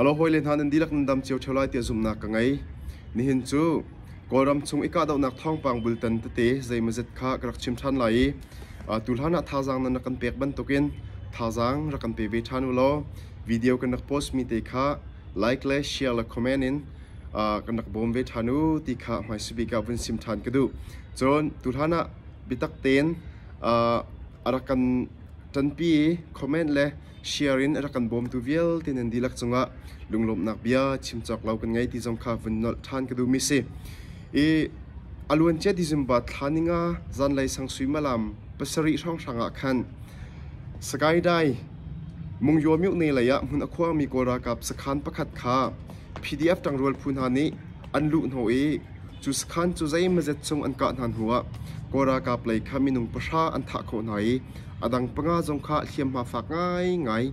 Halo hawile hna nan dihlak nan dam cio ṭheo lai tiah zumhnak ka ngei. Nihin cu Kawlram chung i kahdohnak thawngpang bultan tete zeimawzet kha ka rak chim ṭhan lai i a tu hlanah thazaang nan rak kan pek bantukin thazaang rak kan pe ve ṭhan u law video kan rak post mi te kha like le share le comment in a kan rak bawm ve ṭhan u ti kha hmaisabik bik ah vun sim ṭhan ka duh. Cun tu hlanah biatak tein a rak kan ṭanpi i comment le Share in a rak kan bawmtu vialte nan dihlak cungah lunglawmhnak bia chim cawk lo kan ngei ti zong kha vun nolh ṭhan ka duhmi si. I a luancia ti zumba thla ninga zanlei sang sui malam pasarih hrawnghrang ah khan Sagaidai Mungyaw Myuk ne lei ah hmun a khuangmi Kawl ralkap sakhan pakhat kha PDF ṭangrual phu hna nih an luh hnawh i Cu sakhan cu zeimazet chung an kah hna hnuah Kaw ralkap lei kha minung pahra an thah khawh hna i a dang panga zong kha hliamhma fak ngaingai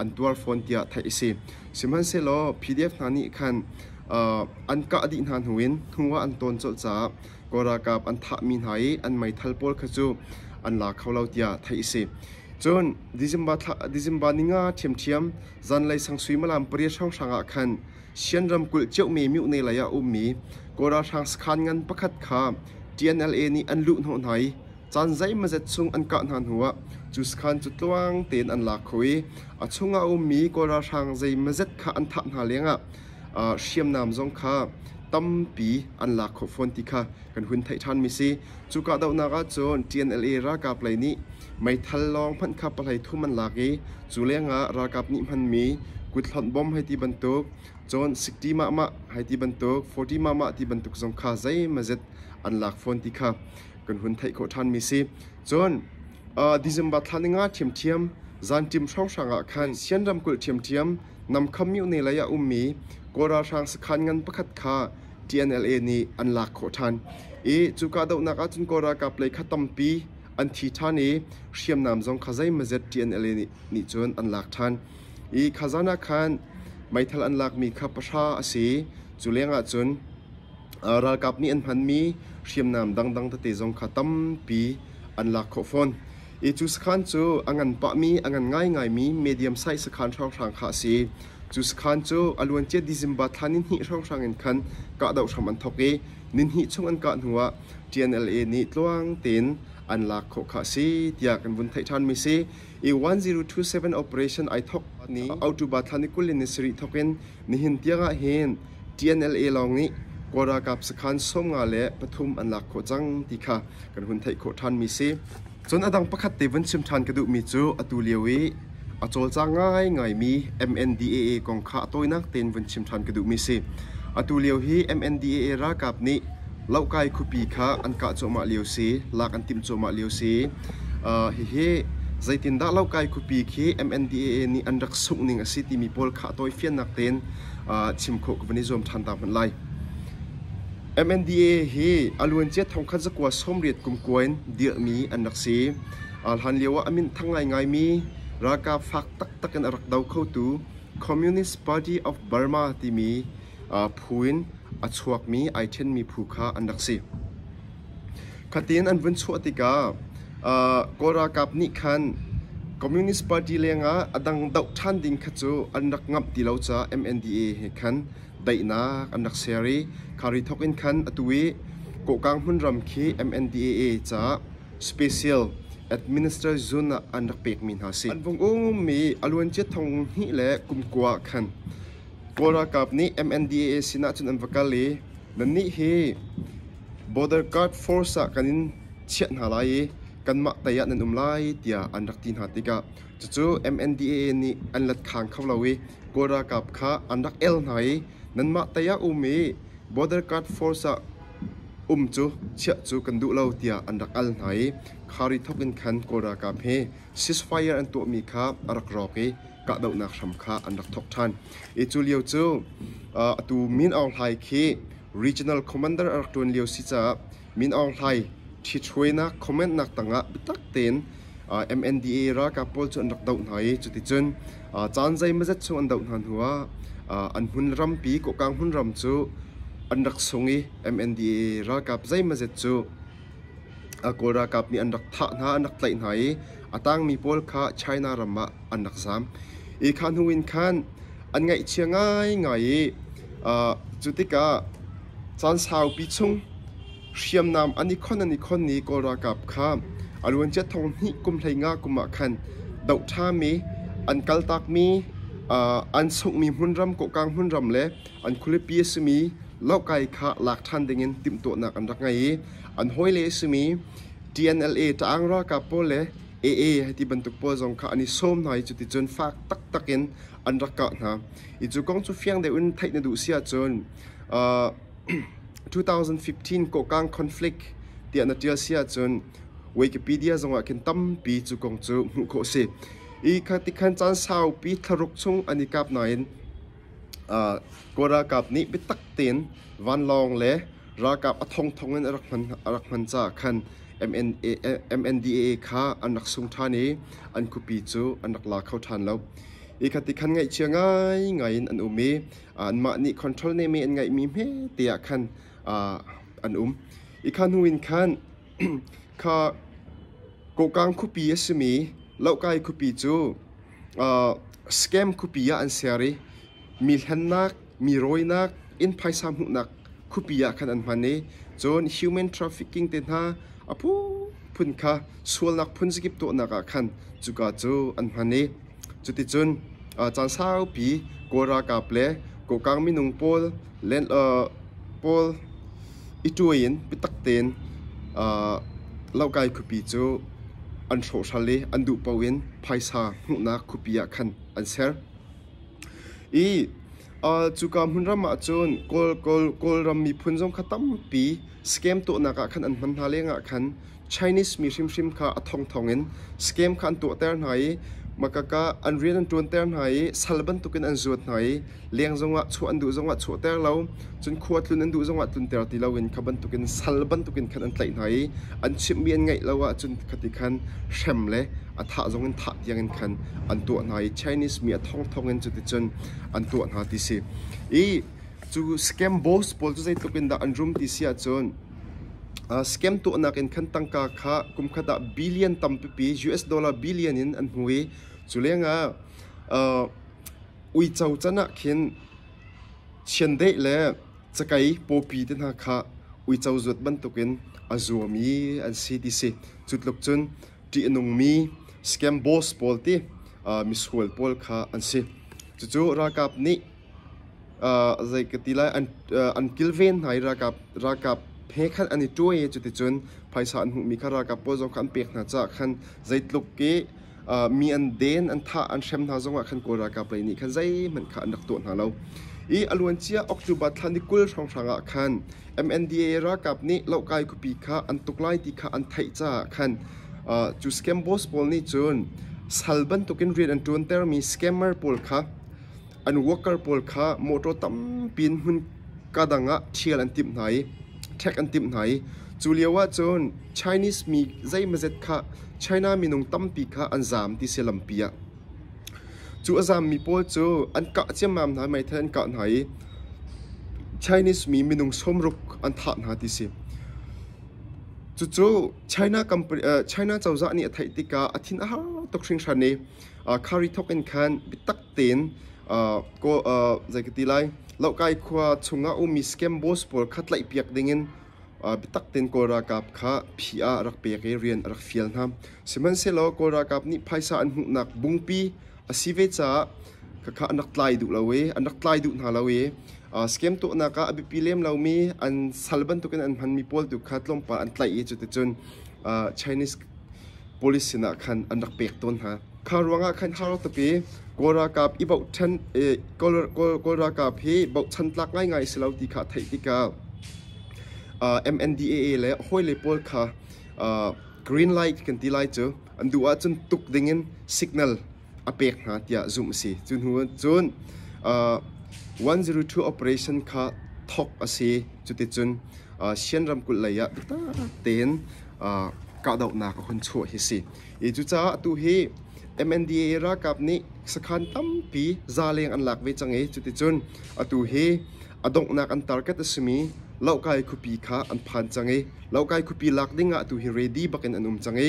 an tuar fawn tiah theih a si. Sihmanhsehlaw PDF hna nih khan an kah dih hna hnuin hnuah an tawn colh caah Kaw ralkap an thahmi hna i an meithal pawl kha cu an la kho lo tiah theih a si. Cun December ni nga ṭhiamṭhiam zanlei sang suimilam pariat hrawnghrang ah khan Shan ramkulh Cheukmi Myone lei ah a ummi Kawl ralhrang sakhan ngan pakhat kha TNLA nih an luh hnawh hna i caan zeimazet chung an kah hna hnu ah cu sakhan cu tluang tein an lak kho i a chung ah a ummi Kawl ralhrang zeimazet kha an thah hna leng ah hriamnam zong kha tampi an lak khawh fawn ti kha kan hun theih ṭhanmi si. Cu kahdohnak ahcun TNLA ralkap lei nih meithal lawng hmanh kha pahlei thum an lak i cu lengah ralkap nih hmanmi kuthlonh bom hei ti bantuk, cun sikṭi mahmah hei ti bantuk, fawṭi mahmah ti bantuk zong kha zeimazet an lak fawn ti kha kan hun theih khawh ṭhanmi si. Cun December thla ni nga ṭhiamṭhiam zanṭim hrawnghrang ah khan Sian ramkulh ṭhiamṭhiam Namkham Myone lei ah ummi Kawl ralhrang sakhan ngan pakhat kha TNLA nih an lak khawh ṭhan i cu kahdohnak ahcun Kawl ralkap lei kha tampi an thi ṭhan i hriamnam zong kha zeimazet TNLA nih nih cun an lak ṭhan i kha zan ah khan meithal an lakmi kha pahra a si cu lengah cun ralkap nih an hmanmi hriamnam dangdang tete zong kha tampi an lak khawh fawn I cu sakhan cu a ngan pahmi, a ngan ngaingaimi medium size sakhan hranghrang kha a si. Cu sakhan cu a luancia December thla nihnih hrawnghrang in khan kahdoh hram an thawk i nihnih chung an kah hnuah TNLA nih tluang tein an lak khawh kha a si tiah kan vun theih ṭhanmi si. I 1027 operation ai thawk ni October thla ni kul in ni sarih thawk in nihin tiangah hin TNLA lawng nih Kawl ralkap sakhan sawm nga le pathum an lak khawh cang ti kha kan hun theih khawh ṭhanmi si. Cun a dang pakhat te vun chim ṭhan ka duhmi cu atu lio i a cawlcang ngaingaimi MNDAA kong kha a tawinak tein vun chim ṭhan ka duhmi si. Atu lio hi MNDAA ralkap nih Lohkai khuapi kha an kah cuahmah lio si, lak an timh cuahmah lio si. Uh, hihi zeitindah Lohkai khuapi khi MNDAA nih an rak sungh ning a si timi pawl kha a tawifiannak tein chim khawh ka van i zuam ṭhan ta hmanh lai. MNDA hi a luancia thongkhat zakua sawmriat kumkua in dirhmi an rak si. Hlan lio ah a minthang ngaingaimi ralkap fak taktak in a rak do khotu Communist Party of Burma timi phu in a chuakmi ai ṭhenmi phu kha an rak si. Khatin an vun chuah tikah Kawl ralkap nih khan Communist Party lengah a dang doh ṭhan ding kha cu an rak ngamh ti lo caah MNDA he khan daihnak an rak ser i khari thawk in khan atu i Kawhkang hmun ram khi MNDAA caah special administrative zone ah an rak pekmi hna a si. An vung ummi a luancia thong hnih le kumkua ah khan Kawl ralkap nih MNDAA sinah cun an va kal i nannih hi Border Guard Force ah kan in chiah hna lai i kanmah tei ah nan um lai tiah an rak ti hna tikah cucu MNDAA nih an let khang kho lo i Kawl ralkap kha an rak el hna i nanmah tei ah um i Border Guard Force ah um cu chiah cu kan duh lo tiah an rak al hna i khari thawk in khan Kawl ralkap he ceasefire an tuahmi kha a rak rawk i kahdohnak hram kha an rak thawk ṭhan i cu lio cu atu Min Aung Hlai khi regional commander a rak ṭuan lio si caah Min Aung Hlai ṭhichuainak commentnak tangah biatak tein MNDA ralkap pawl cu an rak doh hna i cuticun caan zeimazet chung an doh hna hnuah an hmun rampi Kokang hmun ram cu an rak sung i MNDA ralkap zeimazet cu Kawl ralkap nih an rak thah hna an rak tlaih hna i a tangmi pawl kha China ram ah an rak zaam. I kha hnu in khan an ngaihchia ngaingai i uh, cu tikah caan saupi chung hriamnam an i khon an i khon i Kawl ralkap kha a luancia thong hnih kum hlei nga kum ah khan doh ṭhami an kaltakmi uh, an sunghmi hmunram kohkang hmunram le an khualipi a simi lokai kha lak ṭhan dingin timhtuahnak an rak ngei i an hawile a simi TNLA Taang ralkap pawl le Ee hiti bantuk pawl zong kha an i sawm hna i cuticun fak taktak in an rak kah hna. Hi cu kong cu fiang deuhin theih na duh si ahcun uh, 2015 Kokang Conflict tiah na ṭial si ahcun Wikipedia zongah khin tampi cu kong cu hmuh khawh a si. Hi kha tikhan caan saupi thlaruk chung an i kap nain Kawl ralkap nih biatak tein vanlawng le ralkap a thongthong in a rak hman caah khan MNDAA kha an rak sung ṭhan i an khuapi cu an rak la kho ṭhan lo. Hi khati khan ngaihchia ngaingai in an um i anmah nih control neme an ngeihmi hmete ah khan an um. Hi kha hnu in khan Kokang khuapi a simi Lohkai khuapi cu Scam khuapi ah an ser i mi hlennak, mi rawinak, inn phaisa hmuhnak khuapi ah khan an hman i cun human trafficking te hna a phunphun kha sualnak phunzakip tuahnak ah khan cuka cu an hman i cuticun caan saupi Kawl ralkap le Kokang minung pawl Len uh, Paul i ṭuai in biatak tein uh, laukai khuapi cu an hrawhhral i an duh paoh in phaisa hmuhnak khuapi ah khan an ser. I uh, cuka hmun ram ah cun Kawl, Kawl, Kawlram miphun zong kha tampi scam tuahnak ah khan an hman hna lengah khan Chinese mi hrimhrim kha a thong thongin scam kha an tuahter hna i makak ah an rian an ṭuanter hna i sal bantukin an zuat hna i leng zongah chuah an duh zongah chuahter lo, cun khua tlun an duh zongah tlunter ti loin kha bantukin sal bantukin khan an tlaih hna i an chimhmi an ngaih lo ahcun khati khan hrem le a thah zongin thah tiangin khan an tuah hna i Chinese mi a thong thongin cuticun an tuah hna ti si. I cu scam boss pawl cu zeitluk in dah an rum ti si ahcun Scam tuahnak in khan tangka kha kumkhat ah billion tampipi US dollar billion in an hmu i cu lengah uh, uico can ah khin chiandeih le cakei pawpi te hna kha uico zuat bantukin a zuam i an si ti si. Cutluk cun ṭih a nungmi scam boss pawl ti uh, misual pawl kha an si. Cucu ralkap nih zei ka ti lai, an kilven hna i ralkap he khan an i ṭuai i cuticun phaisa an hmuhmi kha ralkap pawl zong kha an pek hna caah khan zeitluk i mi an den, an thah, an hrem hna zongah khan Kawl ralkap lei nih khan zeihmanh kha an rak tuah hna lo. I a luancia October thla ni kul hrawnghrang ah khan MNDA ralkap nih loh-kai khuapi kha an tuk lai ti kha an theih caah khan cu scam boss pawl nih cun sal bantukin rian an ṭuantermi scammer pawl kha An worker pawl kha mawṭaw tampi in hmunka dang ah ṭhial an timh hna i ṭhek an timh hna i cu lioah cun Chinese mi zeimazet kha China minung tampi kha an zaam ti si lampi ah. Cu a zaammi pawl cu an kah ciammam hna, meithal an kah hna i Chinese mi minung sawmruk an thah hna ti si. Cucu China, company, uh, China cozah nih a theih tikah a thin a har tuk hringhran i Khari thawk in khan biatak tein zei ka ti lai Lokai khua chungah ummi Scamboys pawl kha tlaihpiak dingin biatak tein Kawl ralkap kha phi ah rak pek i rian a rak fial hna. Sihmanhsehlaw Kawl ralkap nih phaisa an hmuhnak bungpi a si ve caah khakha an rak tlai duh lo i an rak tlai duh hna lo i scam tuahnak ah a biapi lem lomi an sal bantukin an hmanmi pawl tu kha tlawmpal an tlaih i cuticun Chinese Police sinah khan an rak pek tawn hna. Kha ruangah khan Harottupi Kawl ralkap i bochan Kawl ralkap hi bochan tlak ngaingai a si lo ti kha a theih tikah MNDAA le hawile pawl kha green light kan ti lai cu an duh ahcun tuk dingin signal a pek hna tiah zumh a si. Cu hnu cun uh, 102 operation kha thawk a si. Cuticun uh, Sien ramkulh lei ah taktak tein uh, kahdohnak a hun chuah hi si. I cucaah tu hi MNDA ralkap nih sakhan tampi zaleng an lak ve cang i cuticun atu hi a donghnak an target a simi Lokai khupi kha an phan cang i Lokai khupi lak ding ah tu hi ready bak in an um cang i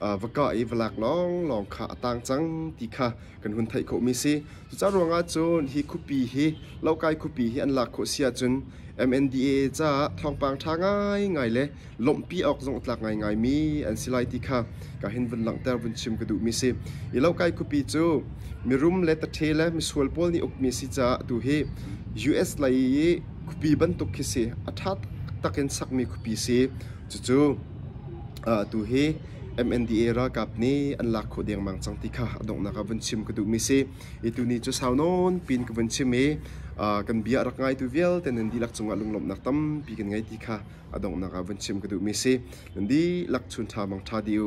va ka i va lak lawnglawng kha a tang cang ti kha kan hun theih khawhmi si. Cucaah ruangah cun hi khuapi hi Lokai khuapi hi an lak khawh si ahcun MNDAA caah thawngpang ṭha ngaingai le lawmhpi awk zong a tlak ngaingaimi an si lai ti kha ka hin vun langhter vun chim ka duhmi si. Hi Lokai khuapi cu mirum le tathe le misual pawl nih ukmi a si caah atu hi US lei i khuapi bantuk khi si a ṭha taktak in sakmi khuapi si. Cucu atu hi MNDA ralkap nih an lak khawh dengmang cang ti kha a donghnak ah vun chim ka duhmi si. I tuni cu sau nawn piin ka vun chim i kan bia a rak ngaitu vialte nan dihlak cungah lunglawmhnak tampi kan ngei ti kha a donghnak ah vun chim ka duhmi si. Nan dihlak chun ṭha bang ṭha dih u.